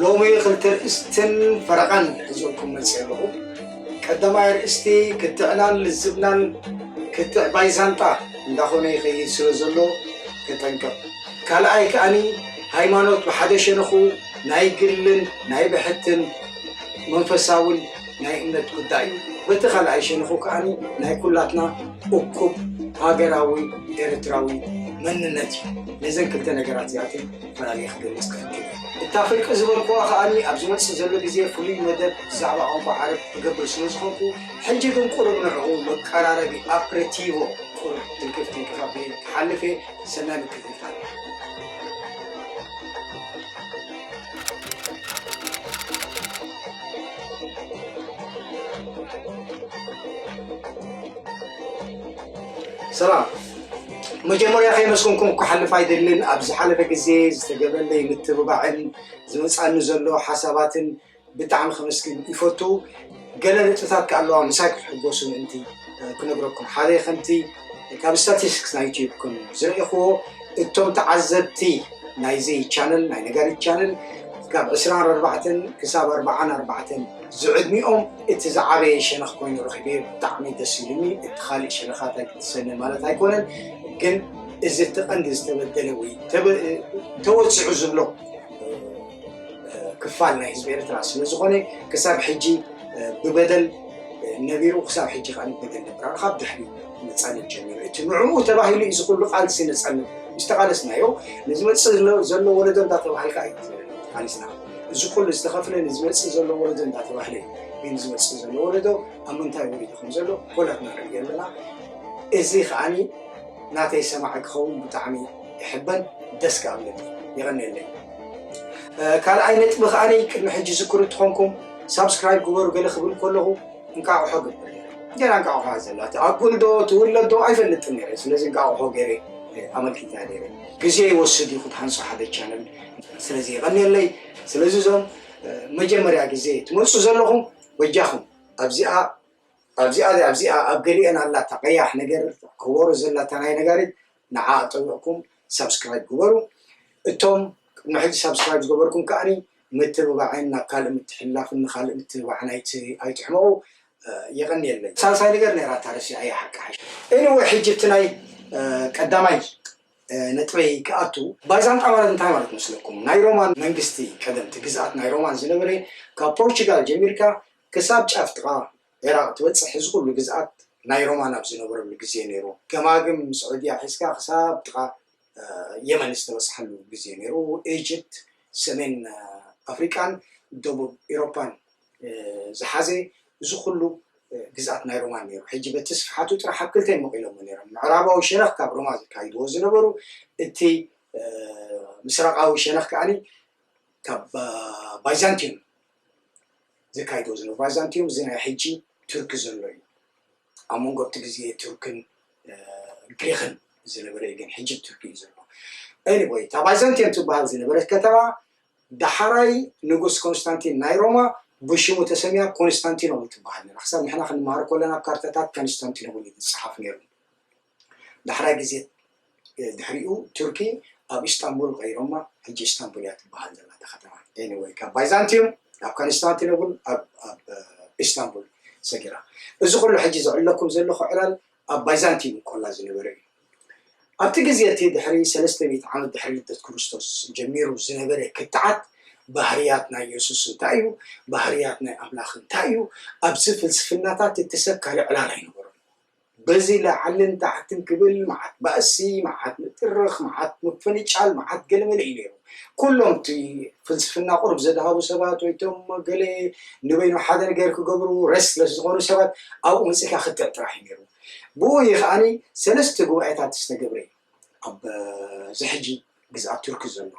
ሎሚ ክልተ ርእስትን ፈረቓን ሒዘልኩም መፅየ ኣለኹ። ቀዳማይ ኣርእስቲ ክትዕናን ልዝብናን ክትዕ ባይዛንጣ እንዳኾነ ይኸይድ ስለ ዘሎ ተጠንቀቕ። ካልኣይ ከኣኒ ሃይማኖት ብሓደ ሸነኹ ናይ ግልን ናይ ብሕትን መንፈሳውን ናይ እምነት ጉዳይ እዩ። በቲ ካልኣይ ሸነኹ ከኣኒ ናይ ኩላትና እኩብ ሃገራዊ ኤርትራዊ መንነት እዩ። ነዘን ክልተ ነገራት እዚኣተን ምናለይ ክገልጽ ክፍትን እየ። እታ ፍርቂ ዝበልኩዋ ከኣ ኣብ ዝመጽእ ዘሎ ግዜ ፍሉይ መደብ ብዛዕባ ቋንቋ ዓረብ ክገብር ስለ ዝኾንኩ ሕጂ ግን ቁሩብ ንዕኡ መቀራረቢ ኣፕሬቲቮ ቁሩብ ትንክፍ ትንክፍ ኣቢለ ክሓልፍ እየ። ሰናይ ምክትታል። ሰላም መጀመርያ ከይመስገንኩም ክሓልፍ ኣይደልን ኣብ ዝሓለፈ ግዜ ዝተገበለይ ምትብባዕን ዝመፃኒ ዘሎ ሓሳባትን ብጣዕሚ ከመስግን ይፈቱ ገለ ነጥብታት ከ ኣለዋ ምሳይ ክትሕጎሱ ምእንቲ ክነግረኩም ሓደ ከምቲ ካብ ስታቲስቲክስ ናይ ዩትዩብ ከም ዝረእኹዎ እቶም ተዓዘብቲ ናይዚ ቻነል ናይ ነጋሪት ቻነል ካብ ዕስራን ኣርባዕተን ክሳብ ኣርባዓን ኣርባዕተን ዝዕድሚኦም እቲ ዝዓበየ ሸነኽ ኮይኑ ረኺበዮ ብጣዕሚ ደስ ኢሉኒ እቲ ካልእ ሸነኻት ኣይክትሰነ ማለት ኣይኮነን ግን እዚ እቲ ቀንዲ ዝተበደለ ወይ ተወፂዑ ዝብሎ ክፋል ናይ ህዝቢ ኤርትራ ስለ ዝኾነ ክሳብ ሕጂ ብበደል ነቢሩ ክሳብ ሕጂ ከዓ ንበደል ነብራ ካብ ድሕሪ ነፃነት ጀሚሩ እቲ ንዕኡ ተባሂሉ እዩ ዝኩሉ ቃልሲ ነፃነት ዝተቃለስናዮ ንዝመፅእ ዘሎ ወለዶ እንዳ ተባሃልካ እዩ ተቃሊስና እዚ ኩሉ ዝተኸፍለ ንዝመፅእ ዘሎ ወለዶ እንዳተባህለ እዩ። ግን ዝመፅእ ዘሎ ወለዶ ኣብ ምንታይ ወሪዱ ከም ዘሎ ኩላትና ንሪኦ ኣለና። እዚ ከዓኒ ናተይ ሰማዒ ክኸውን ብጣዕሚ እሕበን ደስ ከኣ እብለኒ። የቐንየለይ። ካልኣይ ነጥቢ ከዓኒ ቅድሚ ሕጂ ዝክሩ እትኾንኩም ሳብስክራይብ ግበሩ ገለ ክብል ከለኹ እንቃቑሖ ግበር ገና እንቃቑሖ እያ ዘላ ትኣኩል ዶ ትውለድ ዶ ኣይፈልጥን ነይረ ስለዚ እንቃቑሖ ገይረ ኣመልኪታ ነይረ ግዜ ይወስድ እዩ ክትሃንፆ ሓደ ቻነል ስለዚ የቐንየለይ ስለዚ እዞም መጀመርያ ግዜ ትመጹ ዘለኹም በጃኹም ኣብዚኣ ኣብዚኣ ኣብዚኣ ኣብ ገሊኤን ኣላታ ቀያሕ ነገር ከወሮ ዘላታ ናይ ነጋሪት ንዓ ኣጠውቕኩም ሳብስክራይብ ግበሩ እቶም ቅድሚ ሕጂ ሳብስክራይብ ዝገበርኩም ከዓኒ ምትብባዕን ናብ ካልእ ምትሕልላፍን ንካልእ ምትብባዕን ኣይትሕመቑ የቐንየለይ ሳልሳይ ነገር ነይራ ታረሲዓያ ሓቂ ሓሽ ኤኒወይ ሕጂ እቲ ናይ ቀዳማይ ነጥበይ ክኣቱ ባይዛንጣ ማለት እንታይ ማለት መስለኩም ናይ ሮማን መንግስቲ ቀደምቲ ግዝኣት ናይ ሮማን ዝነበረ ካብ ፖርቹጋል ጀሚርካ ክሳብ ጫፍ ጥቃ ዒራቅ ትበጽሕ እዚ ኩሉ ግዝኣት ናይ ሮማን ኣብ ዝነበረሉ ግዜ ነይሩ ገማግም ስዑድያ ሒዝካ ክሳብ ጥቃ የመን ዝተበጽሓሉ ግዜ ነይሩ ኢጅፕት ሰሜን ኣፍሪቃን ደቡብ ኢሮፓን ዝሓዘ እዚ ኹሉ ግዝኣት ናይ ሮማን ነይሩ። ሕጂ በቲ ስፍሓቱ ጥራሕ ኣብ ክልተ መቒሎሞ ነይሮም፣ ምዕራባዊ ሸነኽ ካብ ሮማ ዘካይድዎ ዝነበሩ፣ እቲ ምስራቓዊ ሸነኽ ከኣ ካብ ባይዛንትዩም ዘካይድዎ ዝነበሩ። ባይዛንትዩም እዚ ናይ ሕጂ ቱርኪ ዘሎ እዩ። ኣብ መንጎ ኣብቲ ግዜ ቱርክን ግሪኽን ዝነበረ እዩ፣ ግን ሕጂ ቱርኪ እዩ ዘሎ። Anyway እታ ባይዛንትዩም ትበሃል ዝነበረት ከተማ ዳሓራይ ንጉስ ኮንስታንቲን ናይ ሮማ ብሽሙ ተሰምያ ኮንስታንቲኖብል ትባሃል ነራ ክሳብ ንሕና ክንማሃር ኮለና ኣብ ካርታታት ከንስታንቲኖብል እዩ ዝጻሓፍ ነሩ ዳሕራይ ግዜ ድሕሪኡ ቱርኪ ኣብ ኢስታንቡል ቀይሮማ ሕጂ ኢስታንቡል እያ ትባሃል ዘላ እታ ከተማ ኤኒወይ ካብ ባይዛንቲዩም ናብ ከንስታንቲኖብል ኣብ ኢስታንቡል ሰጊራ እዚ ኩሉ ሕጂ ዝዕለኩም ዘለኩ ዕላል ኣብ ባይዛንቲን ኮላ ዝነበረ እዩ። ኣብቲ ግዜ እቲ ድሕሪ ሰለስተ ሚእቲ ዓመት ድሕሪ ልደት ክርስቶስ ጀሚሩ ዝነበረ ክትዓት ባህርያት ናይ የሱስ እንታይ እዩ፣ ባህርያት ናይ ኣምላኽ እንታይ እዩ፣ ኣብዚ ፍልስፍናታት እቲ ሰብ ካልእ ዕላል ኣይነበሮን። በዚ ላዕልን ታሕትን ክብል መዓት ባእሲ፣ መዓት ምጥርኽ፣ መዓት ምፍንጫል፣ መዓት ገለመለ እዩ ነይሩ። ኩሎም እቲ ፍልስፍና ቁሩብ ዘድሃቡ ሰባት ወይ እቶም ገለ ንበይኖም ሓደ ነገር ክገብሩ Restless ዝኾኑ ሰባት ኣብኡ መጺእካ ክትዕ ጥራሕ እዩ ነይሩ። ብኡ እዩ ከኣ ሰለስተ ጉባኤታት ዝተገብረ ኣብ እዚ ሕጂ ግዝኣት ቱርኪ ዘሎ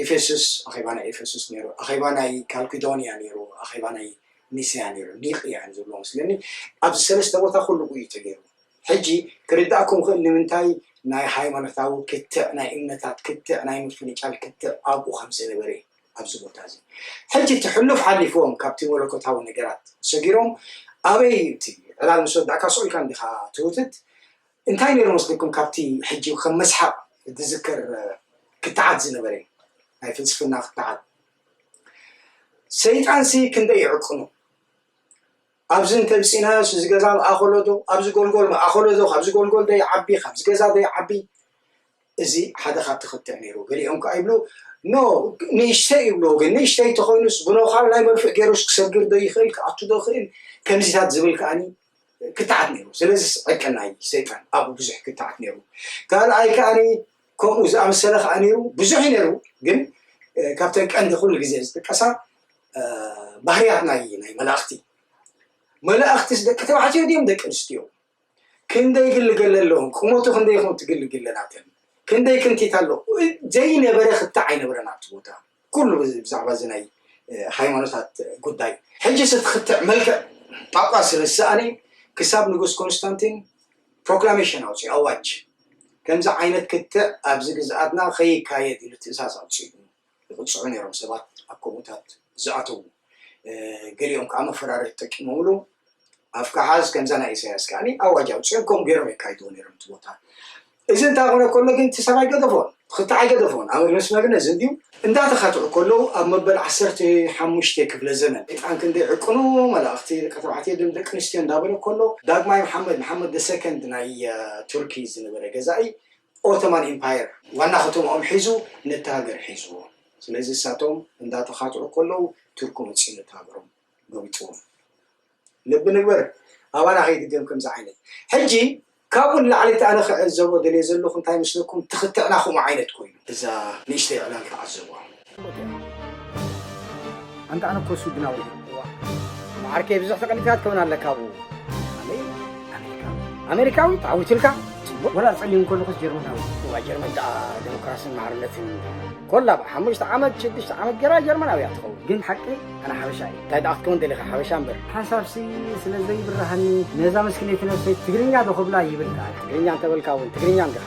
ኤፌሱስ ኣኼባ ናይ ኤፌሱስ ነይሩ፣ ኣኼባ ናይ ካልኪዶንያ ነይሩ፣ ኣኼባ ናይ ኒስያ ነይሩ፣ ኒቅያ እዮም ዝብልዎ መስለኒ ኣብዚ ሰለስተ ቦታ ኩሉ እዩ ተገይሩ። ሕጂ ክርድኣኩም ይኽእል ንምንታይ ናይ ሃይማኖታዊ ክትዕ ናይ እምነታት ክትዕ ናይ ምፍንጫል ክትዕ ኣብኡ ከም ዝነበረ ኣብዚ ቦታ እዚ ሕጂ እቲ ሕሉፍ ሓሊፍዎም ካብቲ መለኮታዊ ነገራት ሰጊሮም ኣበይ እዩ እቲ ዕላል ምስ ወዳእካ ሱቕ ኢልካ እንዲኻ ትውትት እንታይ ነይሩ መስልኩም ካብቲ ሕጂ ከም መስሓቕ ዝዝከር ክትዓት ዝነበረ ናይ ፍልስፍና ክትዓት ሰይጣንሲ ክንደይ ይዕቅኑ ኣብዚ እንተ ምጺእናዮስ እዚ ገዛ ምኣኸሎዶ ኣብዚ ጎልጎል ምኣኸሎዶ ካብዚ ጎልጎል ዶ ይዓቢ ካብዚ ገዛ ዶ ይዓቢ እዚ ሓደ ካብቲ ክትዕ ነይሩ ገሊኦም ከዓ ይብሉ ኖ ንእሽተይ ይብሉ ግን ንእሽተይ ተኾይኑስ ብኖኻል ናይ መርፍእ ገይሩስ ክሰግር ዶ ይኽእል ክኣቱ ዶ ይኽእል ከምዚታት ዝብል ከዓኒ ክትዓት ነይሩ ስለዚ ዕቅን ናይ ሰይጣን ኣብኡ ብዙሕ ክትዓት ነይሩ ካልኣይ ከዓኒ ከምኡ ዝኣመሰለ ከዓ ነይሩ ብዙሕ ነይሩ ግን ካብተን ቀንዲ ኩሉ ግዜ ዝጥቀሳ ባህርያት ናይ ናይ መላእኽቲ መላእኽትስ ደቂ ተባዕትዮ ድዮም ደቂ ኣንስትዮ ክንደይ ግልገለ ኣለዎም ቁመቱ ክንደይ ይኹን ትግል ግለናተን ክንደይ ክንቲት ኣሎ ዘይነበረ ክታ ኣይነበረን ኣብቲ ቦታ ኩሉ ብዛዕባ እዚ ናይ ሃይማኖታት ጉዳይ ሕጂ ስትክትዕ መልክዕ ጳጳስ ስለ ዝሰኣነ ክሳብ ንጉስ ኮንስታንቲን ፕሮክላሜሽን ኣውፅኡ ኣዋጅ ከምዚ ዓይነት ክትዕ ኣብዚ ግዝኣትና ከይካየድ ኢሉ ትእዛዝ ኣውፅኡ ይቕጽዑ ነይሮም ሰባት ኣብ ከምኡታት ዝኣተዉ ገሊኦም ከዓ መፈራርሒ ተጠቂሞምሉ ኣፍካ ሓዝ ከምዛ ናይ ኢሳያስ ከዓኒ ኣዋጅ ኣውፅኦም ከምኡ ገይሮም የካይድዎ ነይሮም እቲ ቦታ እዚ እንታይ ኮነ ከሎ ግን እቲ ሰብኣይ ገደፎን ትኽታዕ ኣይገደፎን ኣብ መስመርነ ዝንድዩ እንዳተኸትዑ ከለዉ ኣብ መበል ዓሰርተ ሓሙሽተ ክፍለ ዘመን ጣን ክንደይ ዕቅኑ መላእኽቲ ደቂ ተባዕትዮ ድም ደቂ ኣንስትዮ እንዳበለ ከሎ ዳግማይ መሓመድ መሓመድ ደሰከንድ ናይ ቱርኪ ዝነበረ ገዛኢ ኦቶማን ኢምፓየር ዋና ከተማኦም ሒዙ ነታ ሃገር ሒዝዎ ስለዚ ንሳቶም እንዳተኻትዑ ከለዉ ቱርኪ መጺኡ ነታ ሃገሮም ጎቢጥዎም ልቢ ንግበር ኣባና ከይድገም ከምዚ ዓይነት ሕጂ ካብኡ ንላዕሊ እቲ ኣነ ክዕዘቦ ደልየ ዘለኹ እንታይ መስለኩም ትኽትዕና ከምኡ ዓይነት ኮይኑ እዛ ንእሽተይ ዕላል ተዓዘብዋ። ኣንተ ኣነ እኮ ሱድናዊ ማዓርከይ ብዙሕ ተቐኒታት ከውን ኣለካ ኣብኡ ኣሜሪካዊ ተዓዊትልካ ፅቡቕ ወላ ፀሊም ከለኹስ ጀርመናዊ እዋ ጀርመን ደኣ ዴሞክራስን ማዕርነትን ኮላ ብ ሓሙሽተ ዓመት ሽዱሽተ ዓመት ገይራ ጀርመናዊ እያ ትኸውን ግን ሓቂ ኣነ ሓበሻ እዩ እንታይ ደኣ ክትከውን ደሊኻ ሓበሻ እምበር ሓሳብሲ ስለ ዘይብርሃኒ ነዛ መስክነይቲ ነብሰይ ትግርኛ ዶ ክብላ ይብል ከኣ ትግርኛ እንተበልካ እውን ትግርኛ እንዲኻ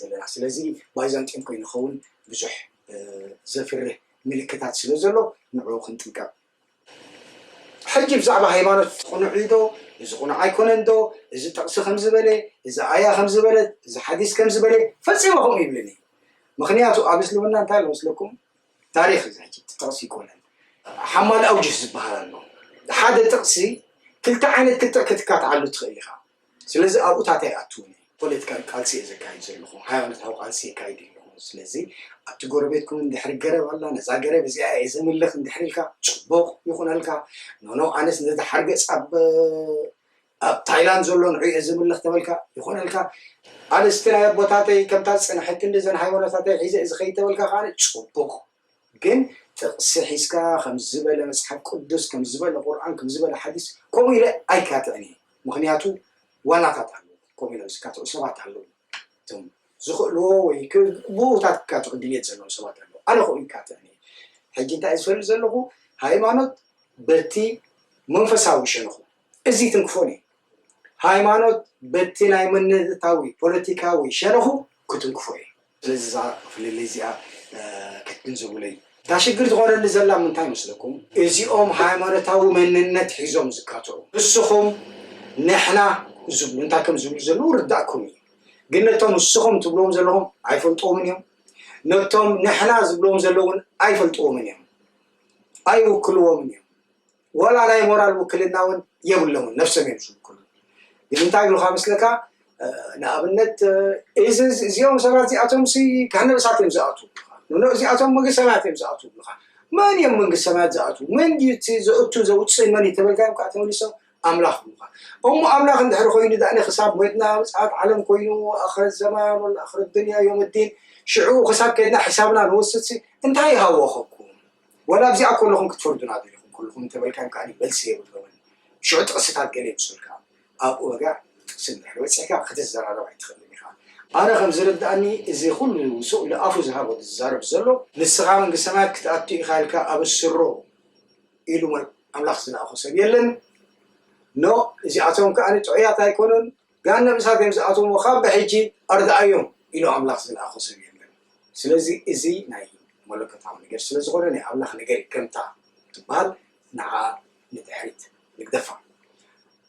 ዘለና ስለዚ ባይዛንጥዮን ኮይኑ ክኸውን ብዙሕ ዘፍርህ ምልክታት ስለ ዘሎ ንዕኡ ክንጥንቀቕ። ሕጂ ብዛዕባ ሃይማኖት ቅኑዕ እዩ ዶ እዚ ቅኑዕ ኣይኮነን ዶ እዚ ጥቕሲ ከምዚ በለ እዚ ኣያ ከምዚ በለት እዚ ሓዲስ ከምዚ በለ ፈጺመ ከምኡ ይብልን እዩ ምክንያቱ ኣብ እስልምና እንታይ ኣሎ መስለኩም ታሪክ እዚ ሕጂ ጥቕሲ ይኮነን ሓማል ኣውጅህ ዝበሃል ኣሎ ሓደ ጥቕሲ ክልተ ዓይነት ክትዕ ክትካትዓሉ ትኽእል ኢኻ ስለዚ ኣብኡ ታተ ኣይኣትውን እየ ፖለቲካዊ ቃልሲ እየ ዘካይድ ዘለኹ ሃይማኖታዊ ቃልሲ የካይድ የለኹን ስለዚ ኣብቲ ጎረቤትኩም እንድሕሪ ገረብ ኣላ ነዛ ገረብ እዚኣ እየ ዘምልኽ እንድሕሪ ኢልካ ጽቡቕ ይኹነልካ ኖኖ ኣነስ ነዚ ሓርገጽ ኣብ ኣብ ታይላንድ ዘሎ ንዑ እየ ዘምልኽ ተበልካ ይኾነልካ ኣነስቲ ናይ ኣቦታተይ ከምታ ዝጸንሐት ክንዲ እዘን ሃይማኖታተይ ሒዘ እዚ ከይድ ተበልካ ከኣ ጽቡቕ ግን ጥቅሲ ሒዝካ ከምዚ ዝበለ መጽሓፍ ቁዱስ ከምዚ ዝበለ ቁርኣን ከምዚ ዝበለ ሓዲስ ከምኡ ኢለ ኣይካትዕን እየ ምኽንያቱ ዋናታት ኣለዉ ከምኡ ኢሎም ዝካትዑ ሰባት ኣለዉ እቶም ዝኽእልዎ ወይ ብኡታት ክካትዑ ድልየት ዘለዎም ሰባት ኣለዉ ኣነ ከምኡ ይካትዕን እየ ሕጂ እንታይ ዝፈልጥ ዘለኹ ሃይማኖት በቲ መንፈሳዊ ሸንኹ እዚ ትንክፎን እዩ ሃይማኖት በቲ ናይ መንነታዊ ፖለቲካዊ ሸንኹ ክትንክፎ እዩ ስለዚ እዛ ፍልልይ እዚኣ ክትግንዘቡለይ። እታ ሽግር ትኾነኒ ዘላ ምንታይ ይመስለኩም እዚኦም ሃይማኖታዊ መንነት ሒዞም ዝካትዑ ንስኹም ንሕና ዝብሉ እንታይ ከም ዝብሉ ዘለዉ ይርዳእኩም እዩ ግን ነቶም ንስኹም ትብልዎም ዘለኹም ኣይፈልጥዎምን እዮም ነቶም ንሕና ዝብልዎም ዘለዉን ኣይፈልጥዎምን እዮም ኣይውክልዎምን እዮም ወላ ናይ ሞራል ውክልና እውን የብሎምን ነብሶም እዮም ዝውክሉ ግን እንታይ ይብሉካ መስለካ ንኣብነት እዚ እዚኦም ሰባት እዚኣቶም ሲ ገሃነብ እሳት እዮም ዝኣትዉ ንኖ እዚኣቶም መንግስቲ ሰማያት እዮም ዝኣትዉ ይብሉካ መን እዮም መንግስቲ ሰማያት ዝኣትዉ መን ድዩ እቲ ዘእቱ ዘውፅእ መን እዩ ተበልካዮም ከዓ ተመሊሶም ኣምላኽ ይብሉካ እሞ ኣምላኽ እንድሕሪ ኮይኑ ዳእኒ ክሳብ ሞይትና ምፅኣት ዓለም ኮይኑ ኣኽረት ዘማን ወላ ኣኽረት ድንያ ዮም ዲን ሽዑ ክሳብ ከድና ሕሳብና ንወስድሲ እንታይ ይሃወኸኩም ወላ ኣብዚኣ ኮለኹም ክትፈርዱና ደሊኹም ኮለኹም እንተበልካዮም ከኣ መልሲ የብሎምን ሽዑ ጥቕስታት ገለ የምጹልካ ኣብኡ ወጋ ጥቕሲ እንድሕሪ በጺሕካ ክትዘራረብ ኣይትኽእልን ኢኻ ኣነ ከም ዝርድኣኒ እዚ ኩሉ ስቕ ኢሉ ኣፉ ዝሃቦ ዝዛረብ ዘሎ ንስኻ መንግስተ ሰማያት ክትኣቱ ኢኻ ኢልካ ኣብስሮ ኢሉ ኣምላኽ ዝለኣኾ ሰብ የለን ኖእ እዚኣቶም ከኣ ጥዑያት ኣይኮኑን ገሃነም እሳት እዮም ዝኣትዉ እሞ ካብ ብሕጂ ኣርድኣዮም ኢሉ ኣምላኽ ዝለኣኾ ሰብ የለን። ስለዚ እዚ ናይ መለኮታዊ ነገር ስለ ዝኾነ ናይ ኣምላኽ ነገር ከምታ ትበሃል ንዓኣ ንድሕሪት ንግደፋ።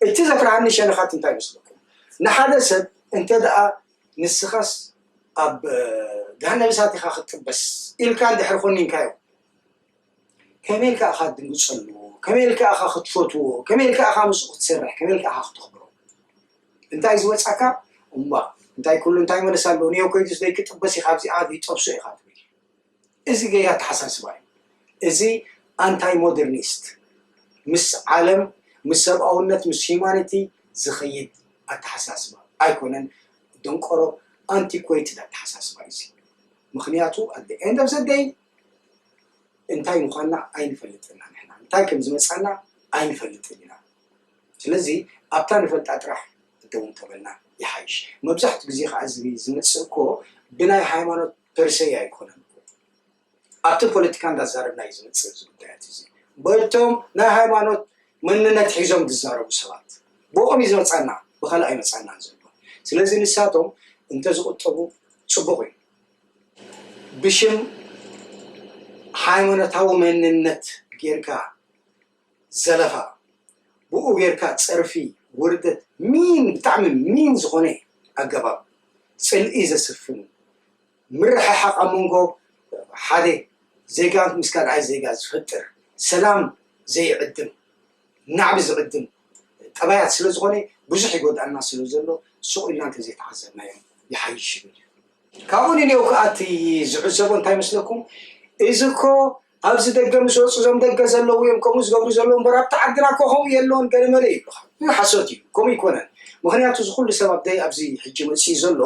እቲ ዘፍርሃኒ ሸነኻት እንታይ ይመስለኩም? ንሓደ ሰብ እንተ ደኣ ንስኻስ ኣብ ገሃነም እሳት ኢኻ ክትጥበስ ኢልካ እንድሕሪ ኮኒንካዮ፣ ከመይ ኢልካ ኢኻ ክትድንግጸሉ፣ ከመይ ኢልካ ኢኻ ክትፈትዎ፣ ከመይ ኢልካ ኢኻ ምስኡ ክትሰርሕ፣ ከመይ ኢልካ ኢኻ ክተኽብሮ። እንታይ ዝወጻካ እምቧእ እንታይ ኩሉ እንታይ መለስ ኣለዎ ኒዮ ኮይዱስ ዘይክጥበስ ኢኻ ኣብዚኣ ዘይጠብሶ ኢኻ ትብል። እዚ ገይ ኣተሓሳስባ እዩ። እዚ ኣንታይ ሞደርኒስት ምስ ዓለም ምስ ሰብኣውነት ምስ ሂማኒቲ ዝኸይድ ኣተሓሳስባ ኣይኮነን ደንቆሮ ኣንቲኮይትድ ኣተሓሳስባ እዩ። ምኽንያቱ ኣት ኤንድ ኦፍ ዘ ደይ እንታይ ምዃንና ኣይንፈልጥን ኢና ንሕና እንታይ ከም ዝመጻና ኣይንፈልጥን ኢና ስለዚ ኣብታ ንፈልጣ ጥራሕ ደው እንተበልና ይሓይሽ መብዛሕትኡ ግዜ ከዓ እዚ ዝመጽእ እኮ ብናይ ሃይማኖት ፐርሰይ ኣይኮነን እኮ ኣብቲ ፖለቲካ እንዳዛረብና እዩ ዝመጽእ እዚ ጉዳያት እዚ በቶም ናይ ሃይማኖት መንነት ሒዞም ዝዛረቡ ሰባት ብኦም እዩ ዝመጻና ብካልእ ኣይመጻናን ዘሎ ስለዚ ንሳቶም እንተዝቁጠቡ ጽቡቅ እዩ ብሽም ሃይማኖታዊ መንነት ጌርካ ዘለፋ ብኡ ጌርካ ጸርፊ ውርደት ሚን ብጣዕሚ ሚን ዝኾነ ኣገባብ ጽልኢ ዘስፍን ምርሕሓቕ ኣብ መንጎ ሓደ ዜጋ ምስ ካልኣይ ዜጋ ዝፈጥር ሰላም ዘይዕድም ናዕቢ ዝዕድም ጠባያት ስለ ዝኾነ ብዙሕ ይጎድኣና ስለ ዘሎ ሱቕ ኢልና እንተ ዘይተዓዘብናዮ ይሓይሽ ይብል። ካብኡ ንኔው ከኣ እቲ ዝዕዘቦ እንታይ መስለኩም እዚ እኮ ኣብዚ ደገ ምስ ወጹ እዞም ደገ ዘለዉ እዮም ከምኡ ዝገብሩ ዘለዉ እምበር ኣብቲ ዓድና እኮ ከምኡ የለዎን ገለመለ ይብሉኻ ግን ሓሶት እዩ ከምኡ ይኮነን ምክንያቱ እዚ ኩሉ ሰብ ኣብደይ ኣብዚ ሕጂ መፅኡ ዘሎ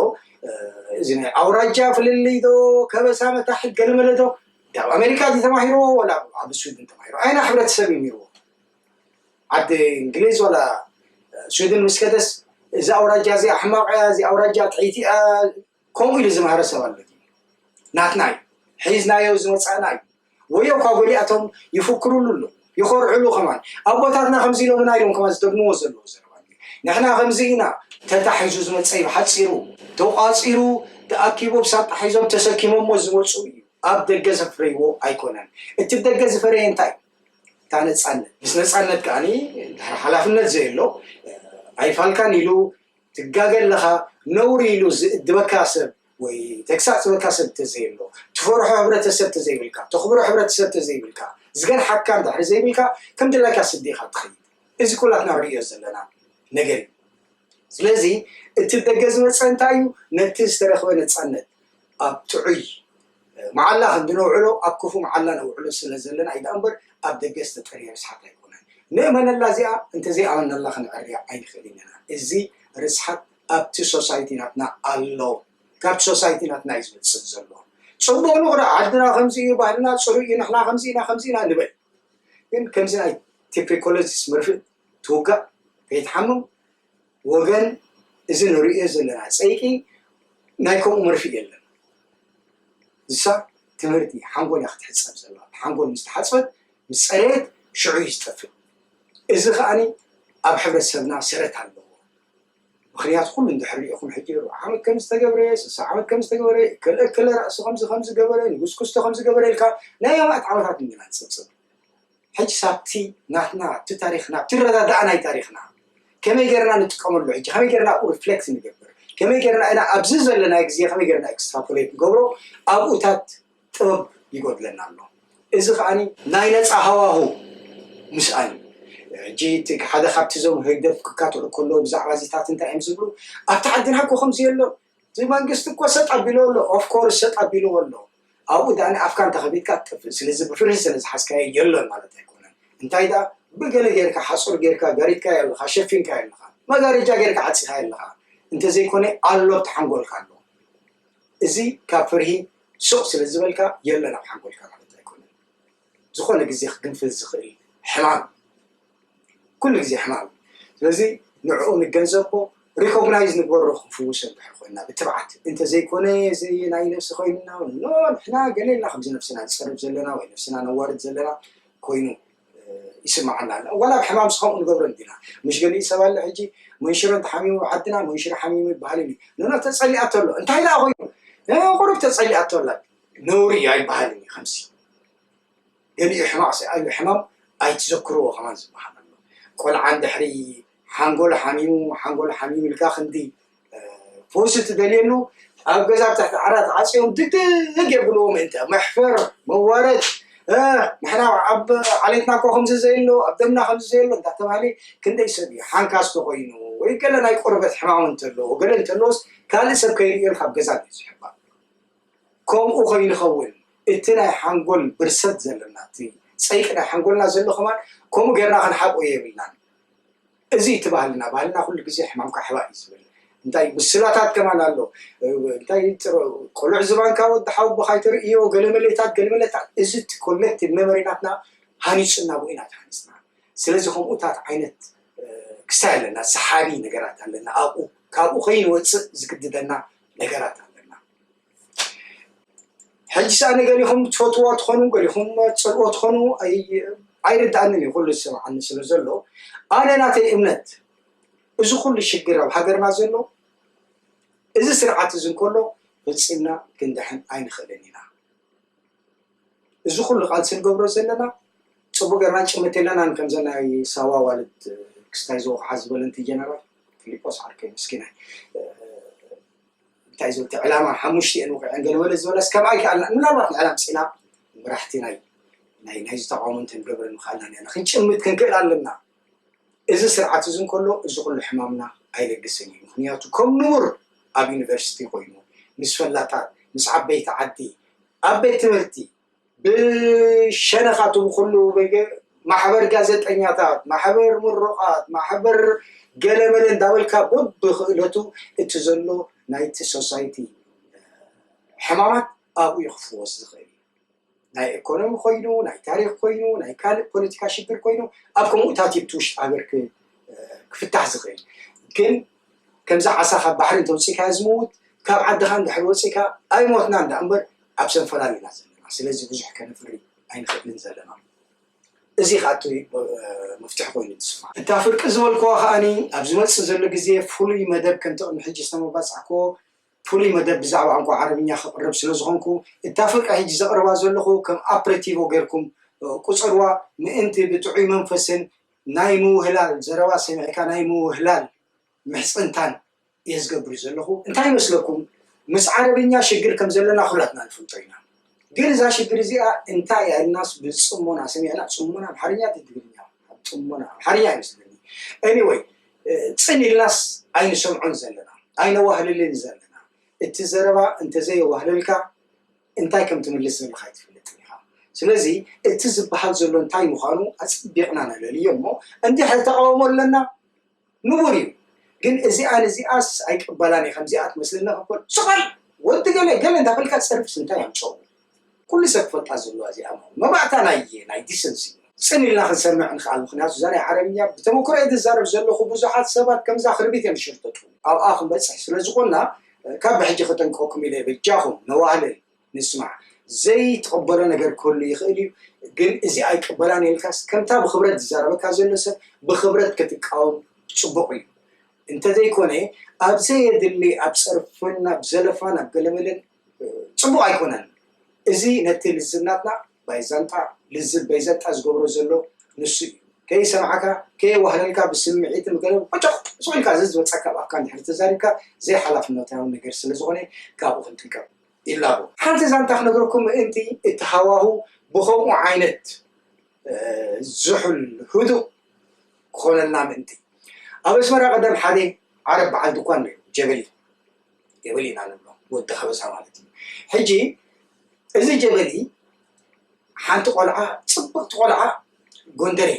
እዚ ናይ ኣውራጃ ፍልልይ ዶ ከበሳ መታሕት ገለመለ ዶ ኣብ ኣሜሪካ ተማሂርዎ ወላ ኣብ ስዊድን ተማሂርዎ ኣይና ሕብረተሰብ እዩ ነይርዎ ዓዲ እንግሊዝ ዋላ ሽወደን ምስ ከደስ እዚ ኣውራጃ እዚ ኣሕማቕ እያ እዚ ኣውራጃ ጥዒቲ እያ ከምኡ ኢሉ ዝምሃረ ሰብ ኣሎ ናትና እዩ ሒዝናዮ ዝመፃእና እዩ ወዮ እኳ ጎሊኣቶም ይፍክሩሉ ኣሎ ይኾርዕሉ ከማን ኣቦታትና ከምዚ ኢሎምና ኢሎም ከማን ዝደግምዎ ዘለዎ ዘረባ ንሕና ከምዚ ኢና ተታሒዙ ዝመፀ እዩ ሓፂሩ ተቋፂሩ ተኣኪቡ ብሳጣ ሒዞም ተሰኪሞሞ ዝመፁ እዩ ኣብ ደገ ዘፍረይዎ ኣይኮነን እቲ ደገ ዝፈረየ እንታይ እታ ነፃነት ምስ ነፃነት ከዓኒ ድሕሪ ሓላፍነት ዘየሎ ኣይፋልካን ኢሉ ትጋገ ኣለኻ ነውሪ ኢሉ ዝእድበካ ሰብ ወይ ተግሳፅ ዝበካ ሰብ ተዘየሎ ትፈርሖ ሕብረተሰብ ተዘይብልካ ተኽብሮ ሕብረተሰብ ተዘይብልካ ዝገንሓካ እንድሕሪ ዘይብልካ ከም ድላይካ ስዲኻ ትኸይድ እዚ ኩላትና ንሪኦ ዘለና ነገር እዩ ስለዚ እቲ ደገ ዝመፀ እንታይ እዩ ነቲ ዝተረኽበ ነፃነት ኣብ ጥዑይ መዓላ ክንድነውዕሎ ኣብ ክፉእ መዓላ ነውዕሎ ስለ ዘለና እዩ ደኣምበር ኣብ ደገ ዝተጠርየ ርስሓት ኣይኮነን። ንእመነላ እዚኣ እንተዘይኣመንናላ ክንዕርያ ኣይንኽእልን ኢና። እዚ ርስሓት ኣብቲ ሶሳይቲ ናትና ኣሎ። ካብቲ ሶሳይቲ ናትና እዩ ዝመጽእ ዘሎ። ጽቡቕ ንቕረኣ ዓድና ከምዚ እዩ ባህልና ጽሩይ እዩ ንሕና ከምዚ ኢና ከምዚ ኢና ንበል። ግን ከምዚ ናይ ቲፕሪኮሎጂስ መርፍእ ትውጋእ ከይትሓምም ወገን እዚ ንርእዮ ዘለና ጸይቂ ናይ ከምኡ መርፍእ የለን። ንሳ ትምህርቲ ሓንጎል እያ ክትሕጸብ ዘለዋ። ሓንጎል ምስ ተሓጽበት ምስ ጸረየት ሽዑ እዩ ዝጠፍእ። እዚ ከኣኒ ኣብ ሕብረተሰብና ሰረት ኣለዎ። ምክንያቱ ኩሉ እንድሕር ርኢኹም ሕጂ ርብዓ ዓመት ከም ዝተገብረ ስሳ ዓመት ከም ዝተገበረ እከለ እከለ ራእሲ ከምዚ ከም ዝገበረ ንጉስ ክስቶ ከም ዝገበረ ኢልካ ናይ ኣማእት ዓመታት እንድና ንጽብጽብ ሕጅ ሳብቲ ናትና ኣብቲ ታሪኽና ኣብቲ ረዳድኣ ናይ ታሪኽና ከመይ ገርና ንጥቀመሉ ሕጂ ከመይ ገርና ኣብኡ ሪፍሌክት ንገብር ከመይ ገርና ኢና ኣብዚ ዘለና ግዜ ከመይ ገርና ኤክስትራፖሌት ንገብሮ ኣብኡታት ጥበብ ይጎድለና ኣሎ እዚ ከዓኒ ናይ ነፃ ሃዋሁ ምስኣን ሕጂ እቲ ሓደ ካብቲ እዞም ህግደፍ ክካትዑ ከለዉ ብዛዕባ እዚታት እንታይ እዮም ዝብሉ ኣብቲ ዓድና ኮ ከምዚ የሎን እዚ መንግስቲ እኮ ሰጥ ኣቢልዎ ኣሎ of course ሰጥ ኣቢልዎ ኣሎ ኣብኡ ድኣ ንኣፍካ እንተከፊትካ ትጠፍእ ስለዚ ብፍርሒ ስለ ዝሓዝካዮ የሎን ማለት ኣይኮነን እንታይ ድኣ ብገለ ጌርካ ሓጹር ጌርካ ጋሪድካዮ ኣለካ ሸፊንካዮ ኣለካ መጋረጃ ጌርካ ዓጺካዮ ኣለካ እንተዘይኮነ ኣሎ ኣብቲ ሓንጎልካ ኣሎ እዚ ካብ ፍርሂ ሱቅ ስለ ዝበልካ የሎን ኣብ ሓንጎልካ ማለት ኣይኮነን ዝኾነ ግዜ ክግንፍል ዝኽእል ሕማም ኩሉ ግዜ ሕማም ስለዚ ንዕኡ ንገንዘቦ ሪኮግናይዝ ንግበሮ ክንፍውሶ እንድሕር ኮይና ብትብዓት እንተዘይኮነ ዘይ ናይ ነፍሲ ኮይንና ኖ ንሕና ገሌና ከምዚ ነፍስና ንፀርብ ዘለና ወይ ነፍስና ነዋርድ ዘለና ኮይኑ ይስምዓና ኣላ ዋላ ኣብ ሕማም ስከምኡ ንገብረ እንዲና ምሽ ገሊኡ ሰብ ኣለ ሕጂ መንሽሮ እንተሓሚሙ ዓድና መንሽሮ ሓሚሙ ይበሃል እዩ ንኖ ተፀሊኣቶ ኣሎ እንታይ ደኣ ኮይኑ ቁሩብ ተፀሊኣቶ ኣላ ነውሪ እዩ ኣይበሃልን እዩ ከምዚ ገሊኡ ሕማቕ ስኣሉ ሕማም ኣይትዘክርዎ ከማን ዝበሃል ኣሎ ቆልዓ እንድሕሪ ሓንጎሉ ሓሚሙ ሓንጎሉ ሓሚሙ ኢልካ ክንዲ ፈውሲ ትደልየሉ ኣብ ገዛ ኣብ ትሕቲ ዓራት ዓፅዮም ድግድግ የብልዎ ምእንተ መሕፈር መዋረድ ንሕና ኣብ ዓሌትና እኮ ከምዚ ዘየሎ ኣብ ደምና ከምዚ ዘየሎ እንዳተባሃለ ክንደይ ሰብ እዩ ሓንካስ ተኮይኑ ወይ ገለ ናይ ቆርበት ሕማም እንተለዎ ገለ እንተለዎስ ካልእ ሰብ ከይርእየልካ ኣብ ገዛ እዩ ዝሕባእ ከምኡ ኮይኑ ኸውን እቲ ናይ ሓንጎል ብርሰት ዘለና እቲ ጸይቂ ናይ ሓንጎልና ዘሎ ከማን ከምኡ ጌርና ክንሓብኦ የብልናን እዚ እቲ ባህልና ባህልና ኩሉ ግዜ ሕማምካ ሕባእ እዩ ዝብል እንታይ ምስላታት ከማን ኣሎ እንታይ ቆልዑ ዝባንካ ወዲ ሓውቦ ካይተርእዮ ገለመሌታት ገለመሌታት እዚ እቲ ኮሌክቲቭ ሜሞሪናትና ሃኒጽና ብኡ ኢና ተሃኒጽና ስለዚ ከምኡታት ዓይነት ክስታይ ኣለና ሰሓቢ ነገራት ኣለና ኣብኡ ካብኡ ከይንወፅእ ዝግድደና ነገራት ኣለና ሕጂ ሰኣ ንገሊኹም ትፈትዎ ትኾኑ ገሊኹም ፅልኦ ትኾኑ ኣይርድኣንን እዩ ኩሉ ዝሰምዓኒ ስለ ዘሎ ኣነ ናተይ እምነት እዚ ኩሉ ሽግር ኣብ ሃገርና ዘሎ እዚ ስርዓት እዚ እንከሎ ፈፂምና ክንድሕን ኣይንኽእልን ኢና እዚ ኩሉ ቃልሲ ንገብሮ ዘለና ፅቡቅ ገይርና ንጭምት የለናን ከምዛ ናይ ሳዋ ኣዋልድ ክስታይ ዝወቅዓ ዝበለንት ጀነራል ፊሊጶስ ዓርከይ ምስኪናይ እንታይ ዝበልኪ ዕላማ ሓሙሽተ እየን ወቂዐን ገለ በለ ዝበላስ ከምኣ ይከኣልና ምናልባት ንዕላ ምፅኢና መራሕቲ ናይ ናይ ናይዚ ተቃውሞ እንተንገብረ ምክኣልና ኔርና ክንጭምት ክንክእል ኣለና እዚ ስርዓት እዚ እንከሎ እዚ ኩሉ ሕማምና ኣይለግስን እዩ ምኽንያቱ ከም ንቡር ኣብ ዩኒቨርሲቲ ኮይኑ ምስ ፈላጣት ምስ ዓበይቲ ዓዲ ኣብ ቤት ትምህርቲ ብሸነኻቱ ብኹሉ ማሕበር ጋዘጠኛታት ማሕበር ምሩቓት ማሕበር ገለመለ እንዳበልካ በብኽእለቱ እቲ ዘሎ ናይቲ ሶሳይቲ ሕማማት ኣብኡ ክፍወስ ዝኽእል እዩ ናይ ኤኮኖሚ ኮይኑ ናይ ታሪክ ኮይኑ ናይ ካልእ ፖለቲካ ሽግር ኮይኑ ኣብ ከምኡታት ይብቲ ውሽጢ ሃገር ክፍታሕ ዝኽእል ግን ከምዚ ዓሳ ካብ ባሕሪ እንተውፅኢካ ዝምውት ካብ ዓድኻ እንድሕር ወፂእካ ኣይሞትና እንዳ እምበር ኣብ ሰንፈላል ኢና ዘለና ስለዚ ብዙሕ ከነፍሪ ኣይንኽእልን ዘለና እዚ ከኣቱ መፍትሒ ኮይኑ ትስፋ እታ ፍርቂ ዝበልክዎ ከዓኒ ኣብ ዝመፅእ ዘሎ ግዜ ፍሉይ መደብ ከምቲ ቅድሚ ሕጂ ዝተመባፃዕክዎ ፍሉይ መደብ ብዛዕባ ቋንቋ ዓረብኛ ከቕርብ ስለ ዝኾንኩ፣ እታ ፍርቂ ሕጂ ዘቕርባ ዘለኹ ከም ኣፕሬቲቮ ጌርኩም ቁጸርዋ፣ ምእንቲ ብጥዑይ መንፈስን ናይ ምውህላል ዘረባ ሰሚዕካ ናይ ምውህላል ምሕጽንታን እየ ዝገብር ዘለኹ። እንታይ ይመስለኩም ምስ ዓረብኛ ሽግር ከም ዘለና ኩላትና ንፈልጦ ኢና። ግን እዛ ሽግር እዚኣ እንታይ እያ ኢልናስ ብፅሞና ሰሚዕና ፅሞና ኣምሓርኛ ትግርኛ ፅሞና ኣምሓርኛ ይመስለኒ ኤኒወይ ፅን ኢልናስ ኣይንሰምዖን ዘለና ኣይነዋህልልን ዘለና እቲ ዘረባ እንተዘየዋህለልካ እንታይ ከም ትምልስ ዘለካ ኣይትፈልጥን ኢኻ ስለዚ እቲ ዝበሃል ዘሎ እንታይ ምዃኑ ኣፅቢቕና ነለልዮ እሞ እንድሕር ተቃውሞ ኣለና ንቡር እዩ ግን እዚኣ ንዚኣስ ኣይቅበላን እየ ከምዚኣ ትመስለኒ ክኮን ስቀል ወዲ ገለ ገለ እንዳበልካ ጸርፍስ እንታይ ኣምጸኦ ኩሉ ሰብ ክፈልጣ ዘለዋ እዚኣ ምሃኑ መባእታ ናይ ናይ ዲሰንሲ ጽን ኢልና ክንሰምዕ ንክኣል ምክንያቱ እዛ ናይ ዓረብኛ ብተመክሮ እየ ዝዛረብ ዘለኩ ብዙሓት ሰባት ከምዛ ክርቢት እዮም ዝሽርተቱ ኣብኣ ክንበጽሕ ስለዝኮና ካብ ብሕጂ ከጠንቅቀኩም ኢለ በጃኩም ነዋህልል። ንስማዕ። ዘይትቕበሎ ነገር ክህሉ ይኽእል እዩ፣ ግን እዚ ኣይቅበላን ኢልካስ ከምታ ብኽብረት ዝዛረበካ ዘሎ ሰብ ብኽብረት ክትቃወም ጽቡቕ እዩ። እንተዘይኮነ ኣብ ዘየድሊ ኣብ ጸርፍን ኣብ ዘለፋን ኣብ ገለመለን ጽቡቕ ኣይኮነን። እዚ ነቲ ልዝብ ናትና ባይዛንጣ ልዝብ በይዘንጣ ዝገብሮ ዘሎ ንሱ እዩ። ከይሰምዓካ ከየዋህለልካ ብስምዒትን ብገለ ቁጭቕ ሱቕ ኢልካ ዘዝመጸካ ኣብ ኣፍካ እንድሕሪ ተዛሪብካ ዘይሓላፍነታዊ ነገር ስለዝኾነ ካብኡ ክንጥንቀቕ ይላቦ። ሓንቲ ዛንታ ክነግረኩም ምእንቲ እቲ ሃዋሁ ብኸምኡ ዓይነት ዝሑል ህዱእ ክኾነልና ምእንቲ። ኣብ ኣስመራ ቀደም ሓደ ዓረብ በዓል ድኳን ነይሩ ጀበሊ ጀበሊ ኢና ንብሎ ወዲ ከበሳ ማለት እዩ። ሕጂ እዚ ጀበሊ ሓንቲ ቆልዓ ጽብቕቲ ቆልዓ ጎንደሬ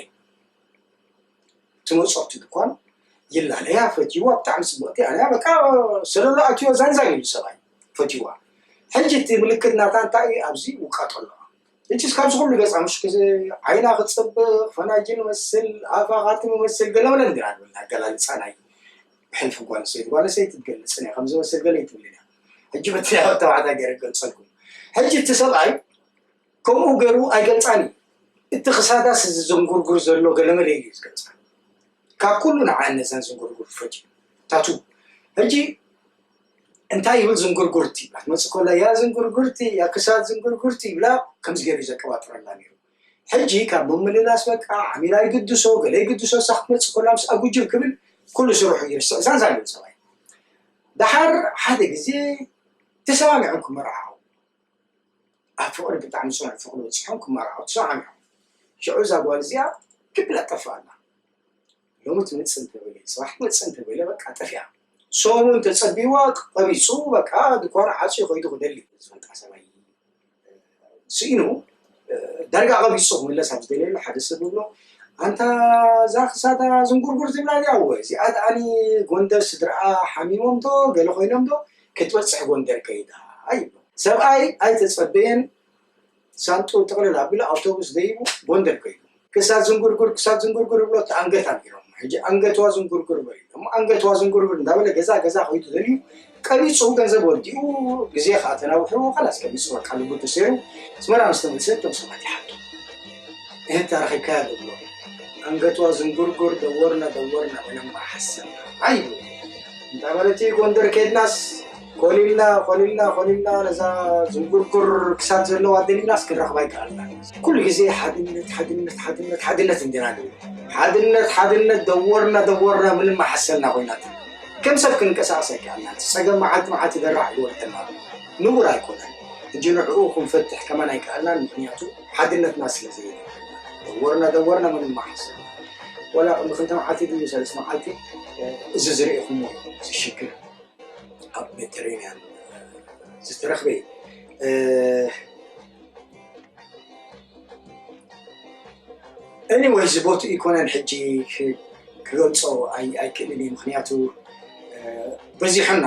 ትመጾ እቲ ድኳን ይላለያ ፈትይዋ ብጣዕሚ ጽብቕቲ ኣያ በቃ ሰለሎ ኣትዮ ዛንዛን ኢሉ ሰብኣይ ፈትይዋ ሕጂ እቲ ምልክት ናታ እንታይ እዩ ኣብዚ ውቃጦ ኣለዋ እቲ እስካብ ዝኩሉ ገጻ ምሽ ዓይና ክጽብቕ ፈናጅን መስል ኣፋ ካቲ መመስል ገለበለ እንዲራ ንብል ኣገላልጻ ናይ ሕልፊ ጓል ሰይቲ ጓል ሰይቲ ትገልጽ ናይ ከምዚ መስል ገለ ይትብል ኢና ሕጂ በቲ ናይ ተባዕታይ ገይረ ገልጸልኩም ሕጂ እቲ ሰብኣይ ከምኡ ገይሩ ኣይገልጻን እዩ። እቲ ክሳዳስ እዚ ዘንጉርጉር ዘሎ ገለመለ እዩ ዝገልጻ። ካብ ኩሉ ንዓ ነዘን ዝንጉርጉር ፈጅ ታቱ ሕጂ እንታይ ይብል ዝንጉርጉርቲ ይብላ ትመፅእ ከላ ያ ዝንጉርጉርቲ ያ ክሳድ ዝንጉርጉርቲ ይብላ ከምዚ ገይሩ እዩ ዘቀባጥረላ ነይሩ ሕጂ ካብ ምምልላስ በቃ ዓሚላ ይግድሶ ገለ ይግድሶ እሳ ክትመፅእ ከላ ምስ ኣጉጅብ ክብል ኩሉ ስርሑ ይርስዕ እዛን ዛልም ሰብኣይ ድሓር ሓደ ግዜ ተሰማሚዖም ክመርዓው ኣብ ፍቕሪ ብጣዕሚ ጽኑዕ ፍቕሪ በጺሖም ክማራዓው ተሰማዕሚዖም ሽዑ እዛ ጓል እዚኣ ክብላ ጠፍኣ ኣላ ሎሚ ትመጽእ እንተበለ ጽባሕ ትመጽእ እንተበለ በቃ ጠፊኣ ሰሙን ተጸቢዋ ቀቢጹ በቃ ድኳን ዓጽዩ ከይዱ ክደሊ ዝፈልጣ ሰብኣይ ስኢኑ ዳርጋ ቀቢጹ ክምለስ ኣብ ዝደልየሉ ሓደ ሰብ ብሎ ኣንታ እዛ ክሳዳ ዝንጉርጉር ዝብላ እዚኣ ወ እዚኣ ደኣኒ ጎንደር ስድርኣ ሓሚሞም ዶ ገለ ኮይኖም ዶ ክትበጽሕ ጎንደር ከይዳ ይብሎ። ሰብኣይ ኣይተጸበየን ሳንጥኡ ጥቕልል ኣቢሉ ኣውቶቡስ ደይቡ ጎንደር ከይዱ። ክሳድ ዝንጉርጉር ክሳድ ዝንጉርጉር ይብሎ እቲ ኣንገት ኣልጊሮሞ ሕጂ ኣንገትዋ ዝንጉርጉር በልዎ እሞ ኣንገትዋ ዝንጉርጉር እንዳበለ ገዛ ገዛ ከይዱ ደልዩ ቀቢጹ ገንዘብ ወዲኡ ግዜ ከኣ ተናዊሕዎ ካላስ ቀቢጹ በቃ ልቡ ተሰይሩ ኣስመራ ምስ ተመልሰ እቶም ሰባት ይሓቱ ይህን ታሪክ ይካየድ ብሎ ኣንገቷ ዝንጉርጉር ደወርና ደወርና ኮይኖም ሓሰብና ኣይ እንታይ ማለት እዩ ጎንደር ከድናስ ኮሊልና ኮሊልና ኮሊልና ነዛ ዝንጉርጉር ክሳድ ዘለዋ ደሊናስ ክንረኽባ ይከኣልና ኩሉ ግዜ ሓድነት ሓድነት ሓድነት ሓድነት እንዲና ንብል ሓድነት ሓድነት ደወርና ደወርና ምንም ሓሰልና ኮይና ከም ሰብ ክንቀሳቀስ ኣይከኣልና ፀገም መዓልቲ መዓልቲ ደራሕ ይወርደና ንቡር ኣይኮነን እጂ ንዕኡ ክንፈትሕ ከማን ኣይከኣልናን ምክንያቱ ሓድነትና ስለ ዘየድልየና ደወርና ደወርና ምንም መሓሰብ ወላ ቅድሚ ክልተ መዓልቲ ድዩ ሰለስተ መዓልቲ እዚ ዝርኢኹሞ እዚ ሽግር ኣብ ሜዲተሬንያን ዝተረኽበ እዩ ኤኒወይ እዚ ቦትኡ ይኮነን ሕጂ ክገልፆ ኣይክእልን እዩ ምክንያቱ በዚሑና